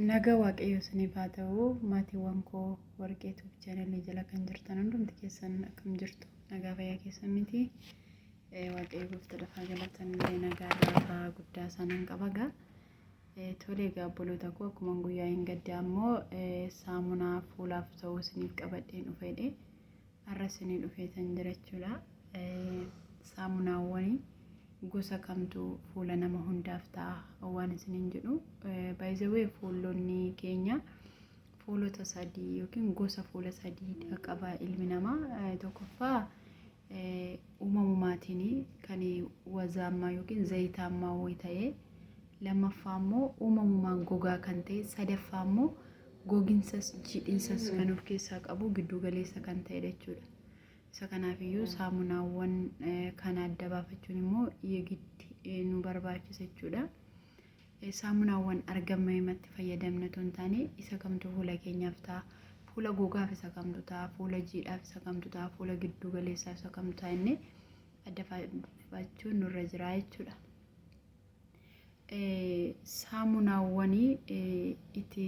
Naga waaqayyoo isiniif haa ta'u maatiiwwan koo warqee tuuf chaanalii jala kan jirtan hundumti keessan akkam jirtu nagaa fayyaa keessan miti waaqayyo goofta dafaa galatan illee nagaa laafaa guddaa isaanan qaba gaa tolee gaa obboloota koo akkuma guyyaa hin gaddaa ammoo saamunaa fuulaaf ta'uu isiniif qabadheen dhufeedhe. Har'a isinii dhufeetan jira jechuudha. Saamunaawwan gosa kamtu fuula nama hundaaf ta'a waan isiniin jedhu. Baay'izawee fuulonni keenya fuulota sadii yookiin gosa fuula sadiidha qaba ilmi namaa. Tokkoffaa uumamumaatiin kan wazaammaa yookiin zayitaammaa wayii ta'ee lammaffaa immoo uumamumaan gogaa kan ta'e, sadaffaa immoo goginsas jiidhinsas kan of keessaa qabu gidduu galeessa kan ta'edha jechuudha. Isa kanaafiyyuu saamunaawwan kana adda baafachuun immoo yegitti nu barbaachisa jechuudha. Saamunaawwan argaman himatti fayyadamna otoo hin taane isa kamtu fuula keenyaaf ta'a, fuula gogaaf isa kamtu ta'a, fuula jiidhaaf isa kamtu ta'a, fuula gidduu galeessaaf isa kamtu ta'a inni adda baafachuun nurra jira jechuudha. saamunaawwanii itti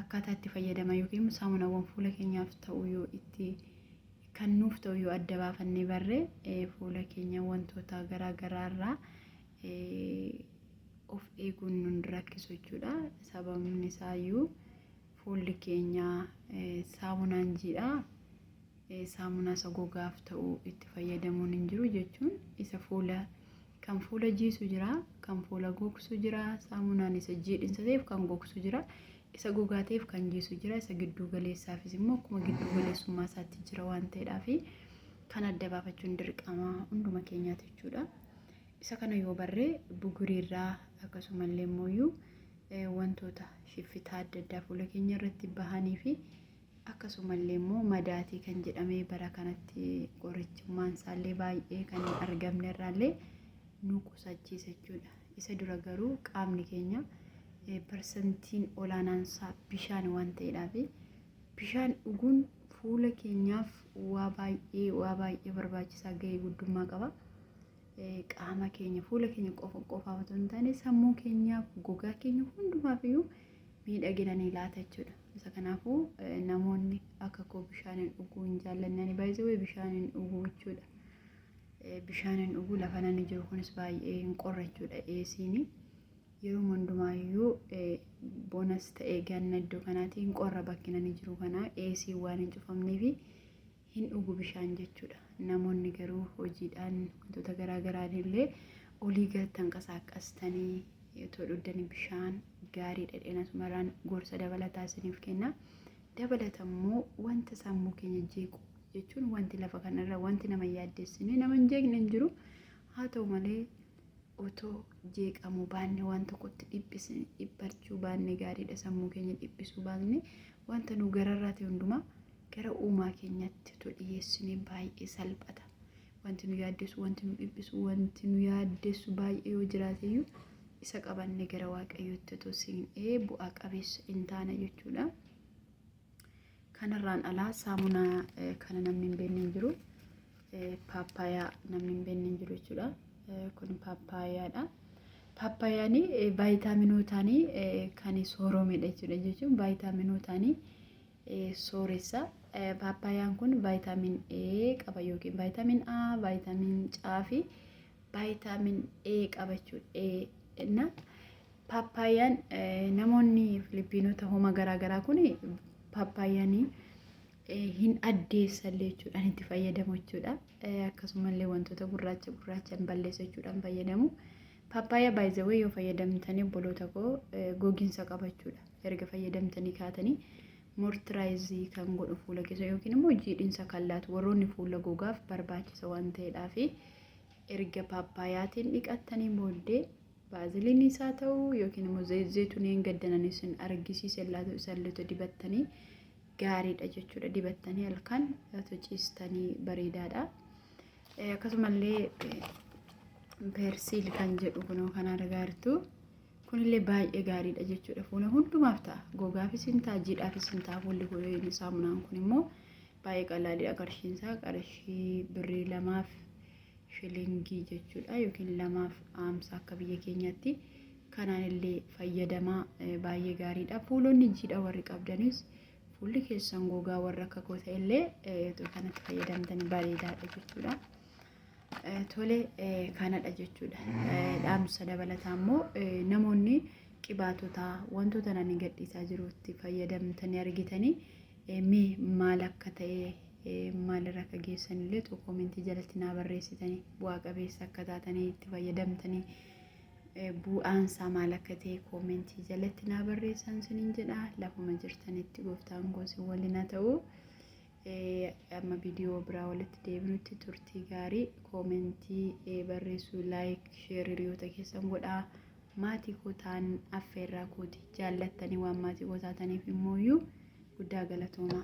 akkaataa itti fayyadama yookiin saamunaawwan fuula keenyaaf ta'u yoo itti kan nuuf ta'u yoo adda baafannee barree fuula keenya wantoota garaa garaa irraa of eeguun nun rakkisu jechuudha. Sababni isaayyuu fuulli keenya saamunaan jiidha. saamunaa isa gogaaf ta'u itti fayyadamuun hin jiru jechuun isa fuula kan fuula jiisu jira kan fuula gogsu jira saamunaan isa jiidhinsa ta'eef kan gogsu jira isa gogaa ta'eef kan jiisu jira isa gidduu galeessaafis immoo akkuma gidduu galeessummaa isaatti jira waan ta'eedhaaf kan adda baafachuun dirqama hunduma keenyaati jechuudha. Isa kana yoo barree buguriirraa akkasumallee immoo wantoota shiffitaa adda addaa fuula keenya irratti bahanii fi Akkasumallee immoo madaatii kan jedhamee bara kanatti qorichummaan isaallee baay'ee kan hin argamne irraallee nu qusachiisa jechuudha. Isa dura garuu qaamni keenya parsantiin olaanaan isaa bishaan waan ta'eedhaaf bishaan dhuguun fuula keenyaaf waa baay'ee waa baay'ee barbaachisaa ga'ee guddummaa qaba. Qaama keenya fuula keenya qofa qofaaf otoo hin taane sammuu keenyaaf gogaa keenya hundumaaf iyyuu miidhagina ni laata jechuudha. Isa kanaafuu namoonni akka koo bishaan hin dhuguu hin jaallanne ani baay'ee bishaan hin dhuguu jechuudha. Bishaan hin dhuguu lafa nani jiru kunis baay'ee hin qorra jechuudha eesiin yeroo hundumaayyuu bonas ta'ee ganna iddoo kanaatii hin qorra bakki nani jiru kanaa eesiin waan hin cufamneefi hin dhugu bishaan jechuudha. Namoonni garuu hojiidhaan wantoota garaa garaan illee olii gad tanqasaaqqastanii otoo dhuddanii bishaan gaarii dhedheena sumarraan gorsa dabalataa isiniif kenna. Dabalata immoo wanta sammuu keenya jeequ jechuun wanti lafa kanarra wanti nama yaaddessine nama hin jeeqne hin jiru. Haa ta'u malee otoo jeeqamuu baanne waan tokkotti dhiphisne dhiphachuu baanne gaariidha sammuu keenya dhiphisuu baanne wanta nu gararraati hundumaa gara uumaa keenyatti utuu dhiyeessinee baay'ee salphata. Wanti nu yaaddessu, wanti nu dhiphisu, wanti nu yaaddessu baay'ee yoo jiraate iyyuu isa qabannee gara Waaqayyootti utuu siinee bu'aa qabeessa in taana jechuudha. Kanarraan alaa saamunaa eh, kana namni hin beekne hin jiru. Eh, Paappaayaa namni hin beekne hin jiru jechuudha. Eh, Kun paappaayaadha. Paappaayaani eh, vaayitaaminootaani eh, kan sooromedha jechuudha jechuun vaayitaaminootaani sooressa. Paappaayaan kun vaayitaamin A qaba yookiin vaayitaamin A, vaayitaamin C fi vaayitaamin A qaba jechuudha. Paappaayaan namoonni Filiippiinota homa garaagaraa kun paappaayaan hin addeessallee jechuudhaan itti fayyadamu jechuudha. Akkasumallee wantoota gurraacha gurraachaan balleessa jechuudhaan fayyadamu. Paappaayyaa by the way yoo fayyadamtanii obboloota koo gogiinsa qabachuudha. Erga fayyadamtanii kaatanii mortiraayizii kan godhu fuula keessa yookiin immoo jiidhinsa kan laatu warroonni fuula gogaaf barbaachisa waan ta'eedhaa fi erga paappaayaatiin dhiqattanii booddee baaziliinii isaa ta'uu yookiin immoo zeezeetuneen gaddanan isin argisiise laatu isalleetu dibattanii gaariidha jechuudha dibattanii halkan laatu ciistanii bareedaadha. Akkasumallee persiil kan jedhu kunoo kan argaa jirtu kunillee baay'ee gaariidha jechuudha. Fuula hundumaaf ta'a. Gogaafis hin ta'a, jiidhaafis hin ta'a. Fuulli kun saamunaan kun immoo baay'ee qalaaliidha qarshiin isaa qarshii birrii lamaaf shilingii jechuudha yookiin lamaaf aamsa akka biyya keenyaatti kanaan illee fayyadamaa baay'ee gaariidha. Fuulonni jiidha warri qabdanis Fuulli keessan gogaa warra akka koo ta'e illee utuu kanatti fayyadamtanii bareedaadha jechuudha. Tole kanadha jechuudha. Dhaamsa dabalataa immoo namoonni qibaatota wantoota nani gadhiisaa jirutti fayyadamtanii argitanii mee maal akka ta'e maalirra akka geessan illee koomentii jalatti naa barreessitanii bu'aa qabeessa akka taatanii itti fayyadamtanii Bu'aan isaa maal akka ta'e koomentii jalatti naa barreessaan sinin jedha. Lafuma jirtanitti gooftaan koo sin waliin haa ta'u. Amma viidiyoo biraa walitti deebinutti turtii gaarii koomentii barreessuu laayik sheer hiriyoota keessan godhaa. Maatii koo ta'an affeerraa kooti jaallattanii waan maatii koo taataniif immooyyuu guddaa galatoomaa.